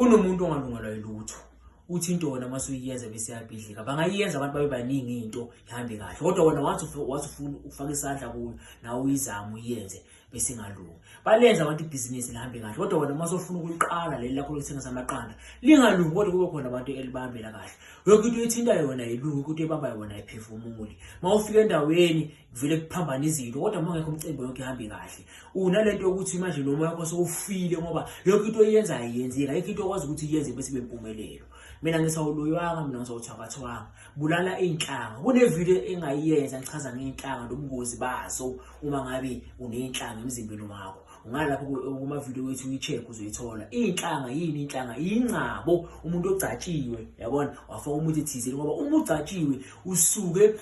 Kunomuntu ongalungelwa yilutho. Uthi into wona mase uyiyenza bese yabhidlika. Bangayiyenza abantu babe baningi into ihambe kahle. Kodwa wona wathi wathi ufuna ukufaka isandla kuyo nawe uyizama uyenze bese ingalungi. Balenza abantu ibhizinisi lihambe kahle. Kodwa wona mase ufuna ukuliqala leli lakho lokuthengisa amaqanda. Lingalungi kodwa kube khona abantu elibambela kahle. Yonke into ethinta yona yilungi ukuthi ebamba yona iphefumuli. Mawufika endaweni vele kuphambana izinto kodwa uma ngekho umcimbi yonke ihambe kahle unalento yokuthi manje noma yakho sewufile ngoba yonke into oyenza ayiyenzeki ayikho into okwazi ukuthi iyenze bese bempumelelo mina ngisawuloywanga mina ngisawuthabathwanga bulala iy'nhlanga kunevidiyo engayiyenza ngichaza ngey'nhlanga nobungozi bazo uma ngabe uney'nhlanga emzimbeni wakho ungalapho kumavidiyo wethu uyi-check uzoyithola iyinhlanga yini inhlanga yingcabo umuntu ogcatshiwe yabona wafaka umuthi thizeni ngoba uma ugcatshiwe usuke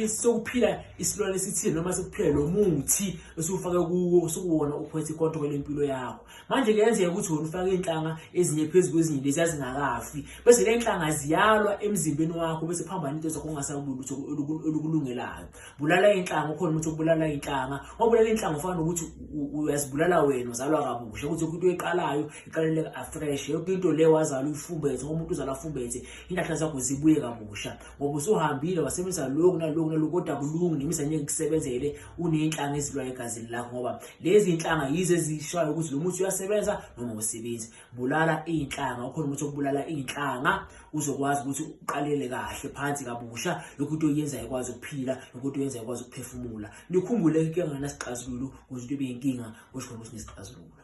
sokuphila isilwane esithile noma sokuphila lo muthi esiwufake kuwo sokuwona uphethe ikontrol lempilo yakho manje kuyenzeka ukuthi wona ufake iy'nhlanga ezinye phezu kwezinye lezi azingakafi bese le nhlanga ziyalwa emzimbeni wakho bese phambana into zakho ungasakubulutho olukulungelayo bulala inhlanga ukhona umuntu obulala inhlanga obulala inhlanga ufana nokuthi uyazibulala wena uzalwa kabusha ukuthi into eqalayo iqalele afresh yonke into le wazala uyifumbethe ngoba umuntu uzala afumbethe inhlahla zakho zibuye kabusha ngoba usuhambile wasebenzisa lokhu nalokhu nalokhu kodwa kulungi nemisa ngeke kusebenzele unenhlanga ezilwa egazini lakho ngoba lezi inhlanga yizo ezishayo ukuthi lo muthi uyasebenza noma usebenzi bulala iy'nhlanga ukhona umuthi okubulala iy'nhlanga uzokwazi ukuthi uqalele kahle phansi kabusha yokho into oyenzayo ekwazi ukuphila yokho into oyenzayo ekwazi ukuphefumula nikhumbule into enganasixazululo kuze into ibe yinkinga kusho khona ukuthi nesixazululo